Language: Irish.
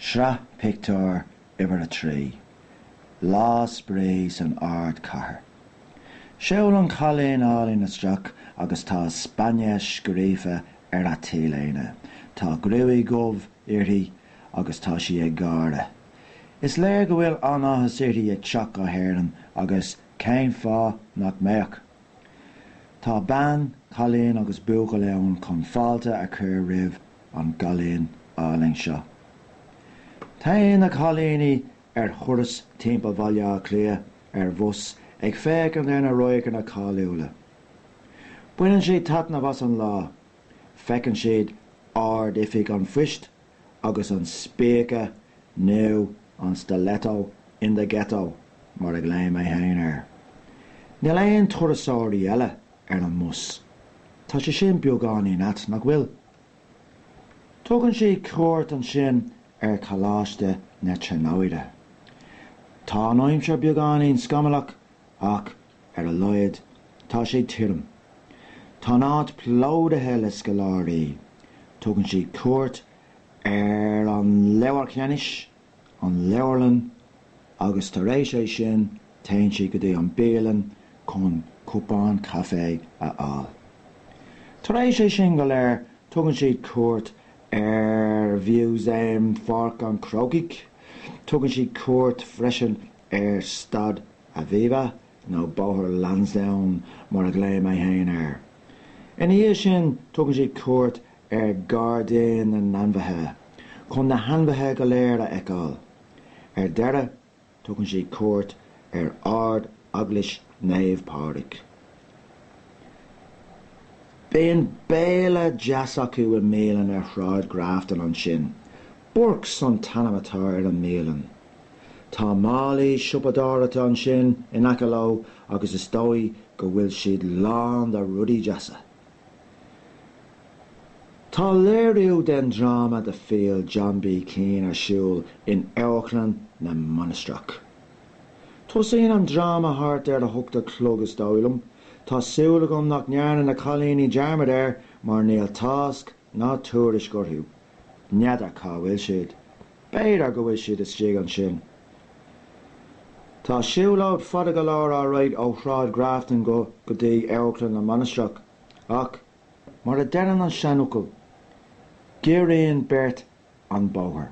Sraith Pictiúr Uimhir 3, Lá Spraoi san Ardchathair. Seo í an cailín álainn isteach agus tá Spáinnis scríofa ar a t-léine. Tá gruaig dhubh uirthi agus tá sí ag gáire. Is léir go bhfuil an-áthas uirthi ag teacht go hÉirinn agus cén fáth nach mbeadh? Tá bean, cailín agus buachaill ann chun fáilte a chur roimh an gcailín álainn seo. Téann na cailíní ar thuras timpeall Bhaile Átha Cliath ar bhus ag féachaint ar na radharcanna cáiliúla. Baineann siad taitneamh as an lá. Feiceann siad Ard-Oifig an Phoist agus an spíce nó an stiletto in the ghetto mar a ghlaoimse féin air. Níl aon turasóirí eile ar an mbus. Tá sé sin beagáinín ait, nach bhfuil? Tugann siad cuairt ansin ar Choláiste na Tríonóide. Tá an aimsir beagáinín scamallach ach Ar a laghad, tá sé tirim. Tá an áit plódaithe le scoláirí. Tugann siad cuairt ar an Leabhar Cheanannais, an leabharlann, agus tar éis sin téann siad go dtí an bialann chun cupán caife a fháil. Tar éis sin go léir tugann siad cuairt ar Mhúsaem Pháirc an Chrócaigh. Tugann siad cuairt freisin ar Staid Aviva, nó Bóthar Lansdowne mar a ghlaoimse fhéin air. Ina dhiaidh sin, tugann siad cuairt ar Ghairdín na nAinmhithe, chun na hainmhithe go léir a fheiceáil. Ar deireadh, tugann siad cuairt ar Ardeaglais Naomh Pádraig. Bíonn béile deas acu i mbialann ar Shráid Grafton ansin, Burke's an t-ainm atá ar an mbialann. Tá málaí siopadóireachta ansin in aice leo agus is dóigh go bhfuil siad lán de rudaí deasa. Tá léiriú den dráma The Field John B Keane ar siúl in Amharclann na Mainistreach. Tosaíonn an dráma thart ar a hocht a chlog is dóigh liom, tá súil agam nach ndearna na cailíní dearmad air mar níl tásc Ná tuairisc orthu. N'fheadar cá bhfuil siad. B'fhéidir go bhfuil siad istigh ansin. Tá siúlóid fada go leor á rith ó Shráid Grafton go go dtí Amharclann na Mainistreach, ach, mar a deireann an seanfhocal, giorraíonn beirt an bóthar.